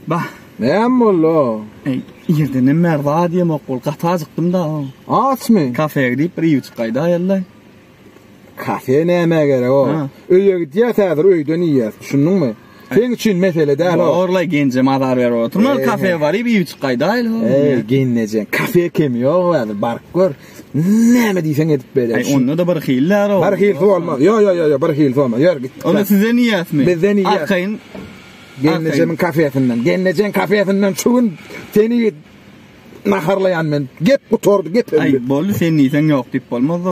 Bah. Näme boldy? Ey, ýerden hem merda diýem ok bol. Gaty ajykdym da. Açmy? Kafeýe gidip bir ýewçik gaýda ýaly. Kafe näme gerek o? Öýe gidýär täze öýden iýýär. Düşündiňmi? Sen üçin mesele däl o. Orlay genje mazar ber oturma. Kafe baryp ýewçik gaýda ýaly. Ey, genje. Kafe kemi ýok, bar gör. Näme diýseň edip berer. Aý onda da bir hil däro. Bir hil bolmaz. Yo yo yo yo bir hil bolmaz. Ýör git. Onda sizden ýasmy? Bizden ýas. Arkaýyn. Gelnejemin kafesinden. Gelnejen kafesinden şu gün seni naharlaýan men. Gep gutardy, gep. Aý boldy sen diýseň ýok diýip bolmaz.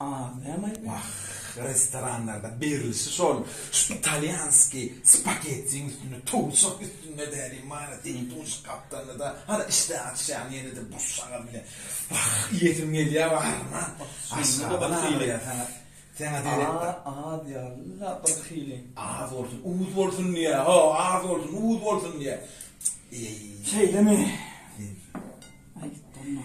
Aaa näme aýdýaň. Wah restoranlarda berilişi şol şu italýanski spagettiň üstünde towusjak üstünde däli mara seýin towusjak gapdalynada hara işdä açýaň ýenede buşjaga bile wah iýesim gelýä baryna aşgabat aýdýa saňa saňa seretde az ýalyda bir hili az bolsun uz bolsun diýä ho az bolsun uz bolsun diýä eý şeýlemi sen aýdyp durma.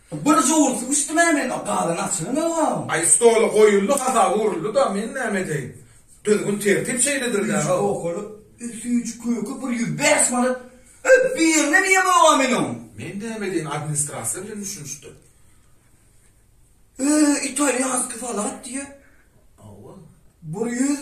Bir jowursy bişdim-ä men, o galan açygy ne wagam? Aý, stola goýuldy, hasaba uruldy-da, men näme edeýin? Düzgün-tertip şeýledir-dä-ow. Üç pokaly, üç köke bir ýüz bäş manat. Öý, birine diýen wagam men oň. Men näme edeýin, administrasiýa bilen düşünişdi. Öý, italýanskiý salat diýýä. Hawa. Bir ýüz.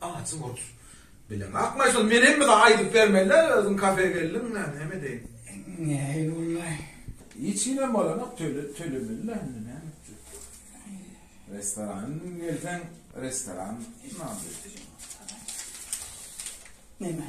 Ajy bolup bilen akmaý şol menem bize aýdyp bermelä özüň kafe geldiň näme näme edeýin. Nähili bollaý. Hiç hinem bolanok töle tölemelä indi näme etjek. Restoran gelseň restoran name etjek. Neme.